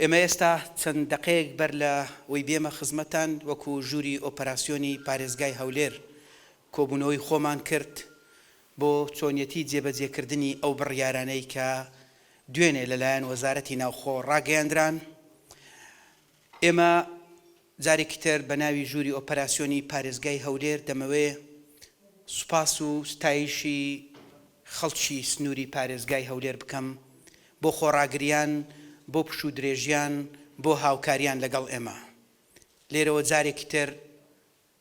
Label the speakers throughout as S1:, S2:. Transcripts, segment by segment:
S1: ئێمە ئێستا چەند دەقەیەک بەر لە وەی بێمە خزمەتتان وەکو ژووری ئۆپەراسیۆنی پارێزگای هەولێر کۆبوونەوەی خۆمان کرد بۆ چۆنیەتی جێبەجێ کردنی ئەو بڕیارانەی کە دوێنێ لە لایەن وەزارەتی ناوخۆ ڕاگەیەندران ئێمە جارێکی تر بە ناوی ژووری ئۆپەراسیۆنی پارێزگای هەولێر دەمەوێ سوپاس و ستایشی خەڵکی سنووری پارێزگای هەولێر بکەم بۆ خۆڕاگریان، بۆ پشوودرێژیان، بۆ هاوکاریان لەگەڵ ئێمە. لێرەوە جارێکی تر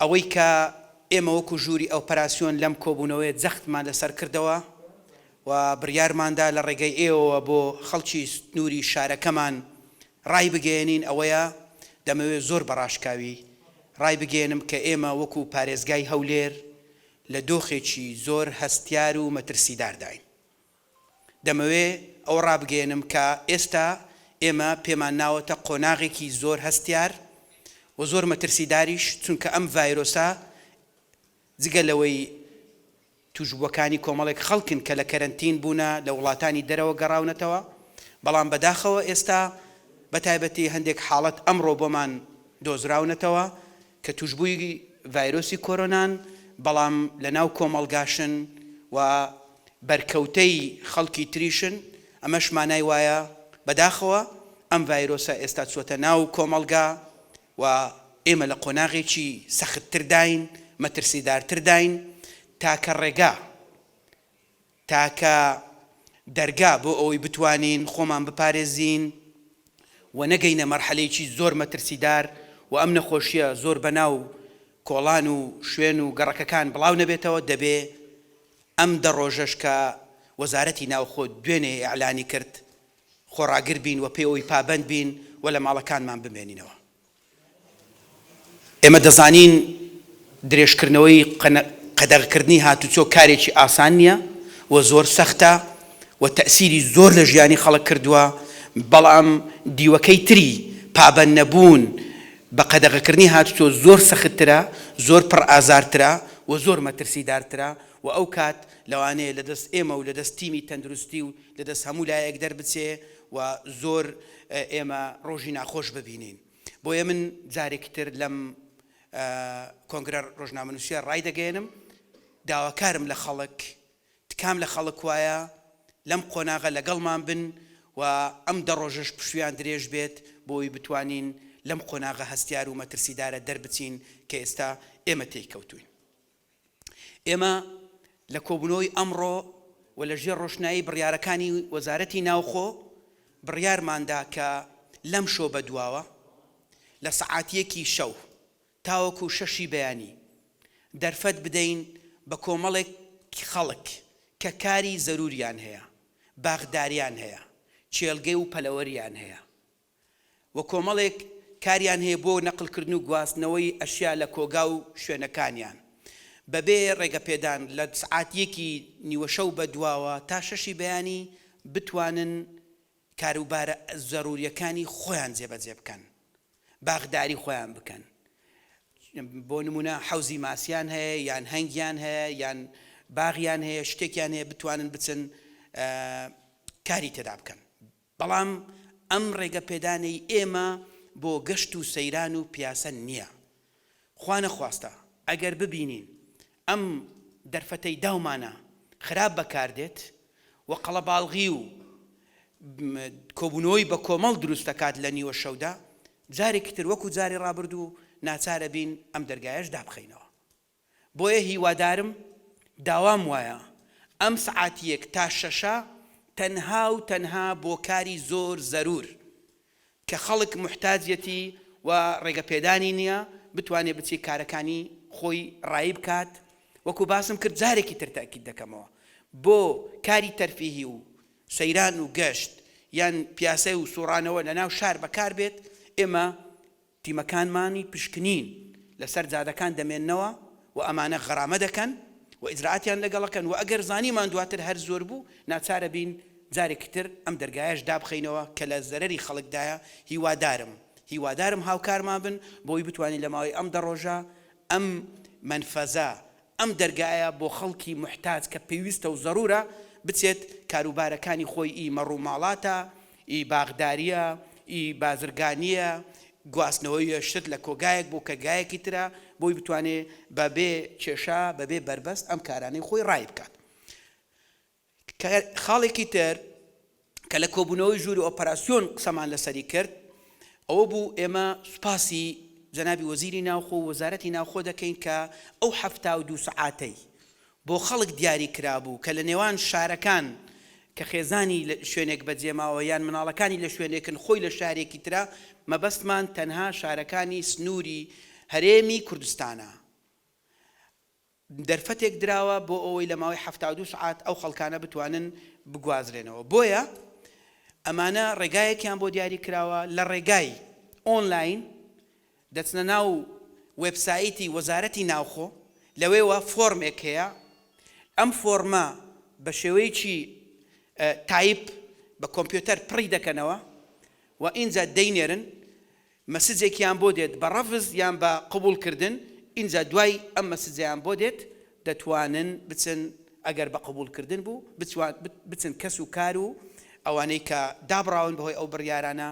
S1: ئەوەی کە ئێمە وەکو ژووری ئۆپەراسیۆن لەم کۆبوونەوەیە جەختمان لەسەر کردەوە و بڕیارماندا لە ڕێگەی ئێوەوە بۆ خەڵکی سنووری شارەکەمان ڕایبگەیەنین ئەوەیە، دەمەوێت زۆر بە ڕاشکاوی ڕایبگەیەنم کە ئێمە وەکو پارێزگای هەولێر لە دۆخێکی زۆر هەستیار و مەترسیدارداین. دەمەوێ ئەوە ڕابگەیەنم کە ئێستا ئێمە پێمان ناوەتە قۆناغێکی زۆر هەستیار و زۆر مەترسیداریش، چونکە ئەم ڤایرۆسە جگە لەوەی تووشبووەکانی کۆمەڵێک خەڵکن کە لە کەرەنتین بوونە، لە وڵاتانی دەرەوە گەڕاونەتەوە، بەڵام بەداخەوە ئێستا بەتایبەتی هەندێک حاڵەت ئەمڕۆ بۆمان دۆزراونەتەوە کە تووشبووی ڤایرۆسی کۆرۆنان، بەڵام لەناو کۆمەڵگاشن و بەرکەوتەی خەڵکی تریشن، ئەمەش مانای وایە بەداخەوە ئەم ڤایرۆسە ئێستا چووەتە ناو کۆمەڵگا و ئێمە لە قۆناغێکی سەختترداین، مەترسیدارترداین، تاکە ڕێگا، تاکە دەرگا بۆ ئەوەی بتوانین خۆمان بپارێزین و نەگەینە مەرحەلەیەکی زۆر مەترسیدار و ئەم نەخۆشییە زۆر بەناو کۆڵان و شوێن و گەڕەکەکان بڵاو نەبێتەوە دەبێ ئەم دە ڕۆژەش کە وەزارەتی ناوخۆ دوێنێ ئیعلانی کرد خۆڕاگر بین و پێوەی پابەند بین و لە ماڵەکانمان بمێنینەوە. ئێمە دەزانین درێژکردنەوەی قەدەغەکردنی هاتوچۆ کارێکی ئاسان نییە و زۆر سەختە و تەئسیری زۆر لە ژیانی خەڵک کردووە، بەڵام دیوەکەی تری پابەندنەبوون بە قەدەغەکردنی هاتوچۆ زۆر سەختترە، زۆر پڕ ئازارترە و زۆر مەترسیدارترە و ئەو کات لەوانەیە لە دەست ئێمە و لە دەست تیمی تەندروستی و لە دەست هەموو لایەک دەربچێ و زۆر ئێمە ڕۆژی ناخۆش ببینین بۆیە من جارێکی تر لەم کۆنگرە ڕۆژنامەنووسیە ڕایدەگەیەنم داواکارم لە خەڵک تکام لە خەڵک وایە لەم قۆناغە لەگەڵمان بن و ئەم دە ڕۆژەش پشویان درێژ بێت بۆی بتوانین لەم قۆناغە هەستیار و مەترسیدارە دەربچین کە ئێستا ئێمە تێی کەوتوین. ئێمە لە کۆبوونەوەی ئەمڕۆ و لە ژێر ڕۆشنایی بڕیارەکانی وەزارەتی ناوخۆ بڕیارماندا کە لەمشۆ بەدواوە لە سەعات یەکی شەو تاوەکو شەشی بەیانی دەرفەت بدەین بە کۆمەڵێک خەڵک کە کاری زەرووریان هەیە، باخداریان هەیە، کێڵگەی و پەلەوەریان هەیە. و کۆمەڵێک کاریان هەیە بۆ نەقلکردن و گواستنەوەی ئەشیا لە کۆگا و شوێنەکانیان بەبێ ڕێگەپێدان لە سعات یەکی نیوەشەو بەدواوە تا شەشی بەیانی بتوانن کاروبارە زەروریەکانی خۆیان جێبەجێ بکەن باخداری خۆیان بکەن بۆ نمونە حەوزی ماسیان هەیە یان هەنگیان هەیە یان باغیان هەیە شتێکیان هەیە بتوانن بچن کاری تێدا بکەن بەڵام ئەم ڕێگە پێدانەی ئێمە بۆ گەشت و سەیران و پیاسە نیە. خوا نەخواستە ئەگەر ببینین ئەم دەرفەتەی داومانە خراپ بەکار دێت و قەڵەباڵغی و کۆبوونەوەی بە کۆمەڵ دروست دەکات لە نیوە شەودا، جارێکی تر وەکو جاری ڕابردوو ناچارەبین ئەم دەرگایەش دابخەینەوە. بۆیە هیوادارم داوام وایە ئەم سەعات یەک تا شەشە تەنها و تەنها بۆ کاری زۆر زەرور کە خەڵک موحتاجیەتی و ڕێگە پێدانی نیە بتوانێ بچێ کارەکانی خۆی ڕایی بکات وەکو باسم کرد جارێکی تر تەئکید دەکەمەوە بۆ کاری تەرفیهی و سەیران و گەشت یان پیاسەی و سوڕانەوە لە ناو شار بەکار بێت ئێمە تیمەکانمانی پشکنین لەسەر جادەکان دەمێننەوە و ئەمانە غەرامە دەکەن و ئیجرائاتیان لەگەڵ ئەکەن و ئەگەر زانیمان دواتر هەر زۆر بوو ناچارەبین جارێکی تر ئەم دەرگایەش دابخەینەوە کە لە زەرەری خەڵکدایە هیوادارم هیوادارم هاوکارمان بن بۆ ئەوەی بتوانین لە ماوەی ئەم دە ڕۆژە ئەم مەنفەزە ئەم دەرگایە بۆ خەڵکی موحتاج کە پێویستە و زەرورە بچێت کاروبارەکانی خۆی ئی مەڕوماڵاتە، ئی باخداریە، ئی بازرگانیە، گواستنەوەی شت لە کۆگایەک بۆ کەگایەکی ترە بۆی بتوانێ بە بێ کێشە بە بێ بەربەست ئەم کارانەی خۆی ڕایبکات. خاڵێکی تر کە لە کۆبوونەوەی ژووری ئۆپەراسیۆن قسەمان لەسەری کرد ئەوە بوو ئێمە سوپاسی جەنابی وەزیری ناوخۆ و وەزارەتی ناوخۆ دەکەین کە ئەو حەفتا و دوو سەعاتەی بۆ خەڵک دیاری کرابوو کە لە نێوان شارەکان کە خێزانی لە شوێنێک بەجێماوە یان مناڵەکانی لە شوێنێکن خۆی لە شارێکی ترە مەبەستمان تەنها شارەکانی سنووری هەرێمی کوردستانە. دەرفەتێک دراوە بۆ ئەوەی لە ماوەی حەفتا و دوو سەعات ئەو خەڵکانە بتوانن بگوازرێنەوە بۆیە ئەمانە ڕێگایەکیان بۆ دیاری کراوە لە ڕێگای ئۆنلاین دەچنە ناو وێبسایتی وەزارەتی ناوخۆ لەوێوە فۆرمێک هەیە ئەم فۆرمە بە شێوەیەکی تایپ بە کۆمپیۆتەر پڕی دەکەنەوە و ئینجا دەینێرن مەسجێکیان بۆ دێت بە ڕەفز یان بە قبوڵ کردن ئینجا دوای ئەم مەسجەیان بۆ دێت دەتوانن بچن ئەگەر بە قبوڵ کردن بوو بچن کەس و کار و ئەوانەی کە دابڕاون بەهۆی ئەو بڕیارانە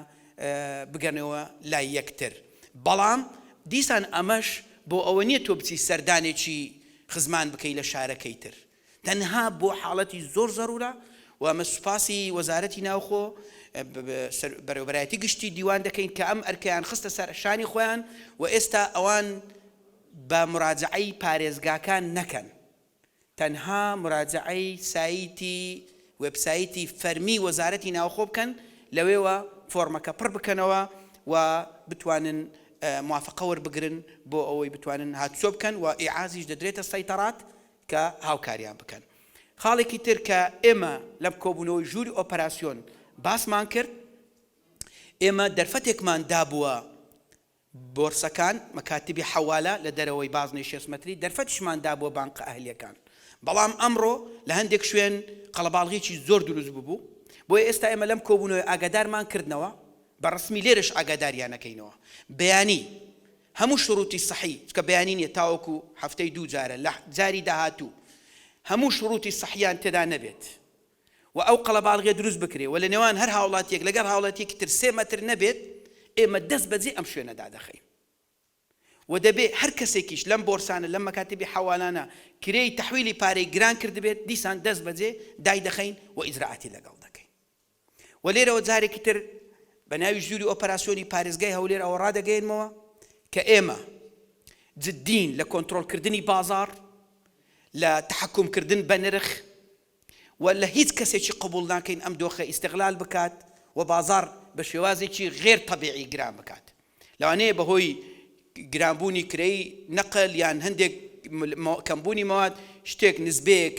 S1: بگەنەوە لای یەکتر بەڵام دیسان ئەمەش بۆ ئەوە نیە تۆ بچی سەردانێکی خزمان بکەی لە شارەکەی تر تەنها بۆ حاڵەتی زۆر زەرورە و ئەمە سوپاسی وەزارەتی ناوخۆ بەرێوەبەرایەتی گشتی دیوان دەکەین کە ئەم ئەرکەیان خستە سەر شانی خۆیان و ئێستا ئەوان بە مراجعەی پارێزگاکان نەکەن تەنها مراجعەی سایتی وێبسایتی فەرمی وەزارەتی ناوخۆ بکەن لەوێوە فۆرمەکە پڕ بکەنەوە و بتوانن موافقە وەربگرن بۆ ئەوەی بتوانن هاتوچۆ بکەن و ئیعازیش دەدرێتە سەیتەڕات کە هاوکاریان بکەن. خاڵێکی تر کە ئێمە لەم کۆبوونەوەی ژووری ئۆپەراسیۆن باسمان کرد، ئێمە دەرفەتێکمان دابووە بۆرسەکان، مەکاتیبی حەوالە لە دەرەوەی بازنەی شێست مەتری، دەرفەتیشمان دابووە بانقە ئەهلییەکان، بەڵام ئەمڕۆ لە هەندێک شوێن قەڵەباڵغیی زۆر دروست ببوو، بۆیە ئێستا ئێمە لەم کۆبوونەوەی ئاگادارمان کردنەوە، بە ڕەسمی لێرەش ئاگاداریان ئەکەینەوە. بەیانی هەموو شروتی سەحی چونکە بەیانی نیە تاوەکو هەفتەی دوو جارە لە جاری داهاتوو هەموو شروتی سەحیان تێدا نەبێت و ئەو قەڵەباڵغیە دروست بکرێ و لە نێوان هەر هاوڵاتیەک لەگەر هاوڵاتیەکی تر سێ مەتر نەبێت ئێمە دەست بەجێ ئەم شوێنە دادەخەین و دەبێ هەر کەسێکیش لەم بۆرسانە لەم مەکاتبی حەوالانە کرێی تەحویلی پارەی گران کردبێت دیسان دەست بەجێ دایدەخەین و ئیجرائاتی لەگەڵ دەکەین و لێرەوە جارێکی تر بە ناوی ژووری ئۆپەراسیۆنی پارێزگای هەولێر ئەوە ڕادەگەیەنمەوە کە ئێمە جددین لە کۆنترۆڵکردنی بازاڕ، لە تەحەکومکردن بە نرخ و لە هیچ کەسێکی قبووڵ ناکەین ئەم دۆخە ئیستغلال بکات و بازاڕ بە شێوازێکی غێر تەبیعی گران بکات. لەوانەیە بەهۆی گرانبوونی کرێی نەقل یان هەندێک کەمبوونی مەواد شتێک نسبەیەک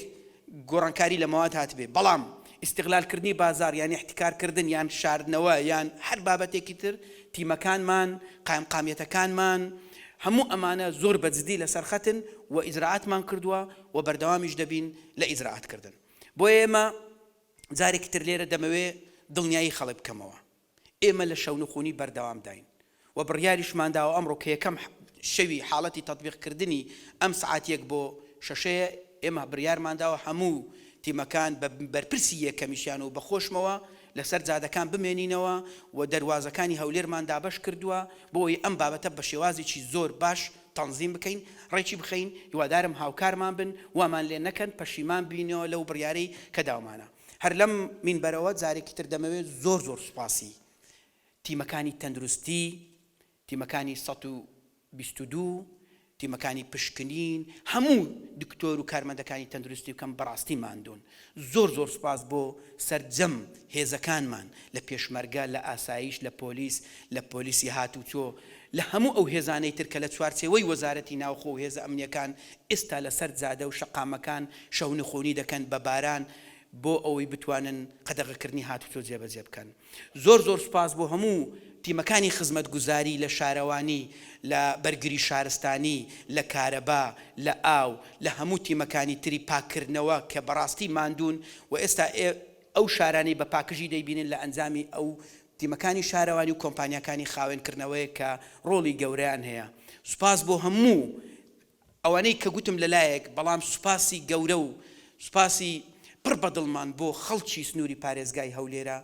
S1: گۆڕانکاری لە مەواد هاتبێ بەڵام ئیستغلالکردنی بازاڕ یان ئیحتیکارکردن یان شاردنەوە یان هەر بابەتێکی تر تیمەکانمان قایمقامیەتەکانمان هەموو ئەمانە زۆر بە جدی لەسەر خەتن و ئیجرائاتمان کردووە و بەردەوامیش دەبین لە ئیجرائاتکردن بۆیە ئێمە جارێکی تر لێرە دەمەوێ دڵنیایی خەڵک بکەمەوە. ئێمە لە شەونخونی بەردەوامداین و بڕیاریشمانداوە ئەمڕۆ کە یەکەم شەوی حاڵەتی تەتبیقکردنی ئەم سەعات یەک بۆ شەشەیە، ئێمە بڕیارمانداوە هەموو تیمەکان بە بەرپرسی یەکەمیشیان و بە خۆشمەوە لەسەر جادەکان بمێنینەوە و دەروازەکانی هەولێرمان دابەش کردووە بۆ ئەوەی ئەم بابەتە بە شێوازێکی زۆر باش تەنزیم بکەین ڕێکی بخەین، هیوادارم هاوکارمان بن وامان لێ نەکەن پەشیمان بینەوە لەو بڕیارەی کە داومانە. هەر لەم مینبەرەوە جارێکی تر دەمەوێ زۆر زۆر سوپاسی تیمەکانی تەندروستی، تیمەکانی سەد و بیست و دوو، تیمەکانی پشکنین، هەموو دکتۆر و کارمەندەکانی تەندروستی بکەم بەڕاستی ماندوون. زۆر زۆر سوپاس بۆ سەرجەم هێزەکانمان لە پێشمەرگە، لە ئاسایش، لە پۆلیس، لە پۆلیسی هاتوچۆ، لە هەموو ئەو هێزانەی تر کە لە چوارچێوەی وەزارەتی ناوخۆ و هێزە ئەمنییەکان ئێستا لەسەر جادە و شەقامەکان شەونخونی دەکەن بە باران بۆ ئەوەی بتوانن قەدەغەکردنی هاتوچۆ جێبەجێ بکەن زۆر زۆر سوپاس بۆ هەموو تیمەکانی خزمەتگوزاری لە شارەوانی لە بەرگری شارستانی لە کارەبا لە ئاو لە هەموو تیمەکانی تری پاککردنەوە کە بەڕاستی ماندوون و ئێستا ئێ ئەو شارانەی بە پاکژی دەیبینن لە ئەنجامی ئەو تیمەکانی شارەوانی و کۆمپانیاکانی خاوێنکردنەوەیە کە ڕۆڵی گەورەیان هەیە سوپاس بۆ هەموو ئەوانەی کە گوتم لە لایەک بەڵام سوپاسی گەورە و سوپاسی پڕ بە دڵمان بۆ خەڵکی سنووری پارێزگای هەولێرە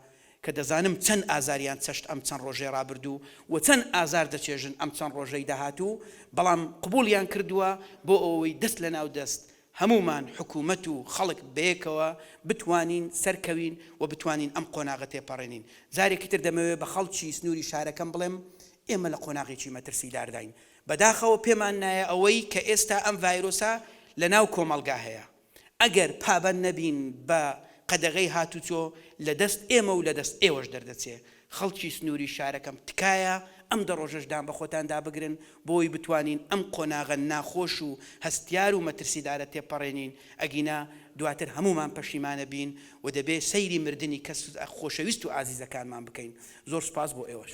S1: کە دەزانم چەند ئازاریان چەشت ئەم چەند ڕۆژەی ڕابردوو و چەند ئازار دەچێژن ئەم چەند ڕۆژەی داهاتوو بەڵام قبوڵیان کردووە بۆ ئەوەی دەست لە ناو دەست هەموومان حکوومەت و خەڵک بەیەکەوە بتوانین سەرکەوین و بتوانین ئەم قۆناغە تێپەڕێنین جارێکی تر دەمەوێ بە خەڵکی سنووری شارەکەم بڵێم ئێمە لە قۆناغێکی مەترسیدارداین بەداخەوە پێمان نایە ئەوەی کە ئێستا ئەم ڤایرۆسە لە ناو کۆمەڵگا هەیە ئەگەر پابەند نەبین بە قەدەغەی هاتوچۆ لە دەست ئێمە و لە دەست ئێوەش دەردەچێ خەڵکی سنوری شارەکەم تکایە ئەم دە ڕۆژەش دان بەخۆتان دا بگرن بۆی بتوانین ئەم قۆناغە ناخۆش و هەستیار و مەترسیدارە تێپەڕێنین ئەگینا دواتر هەمومان پەشیمانە بین و دەبێ سەیری مردنی کەس خۆشەویست و ئازیزەکانمان بکەین زۆر سوپاس بۆ ئێوەش.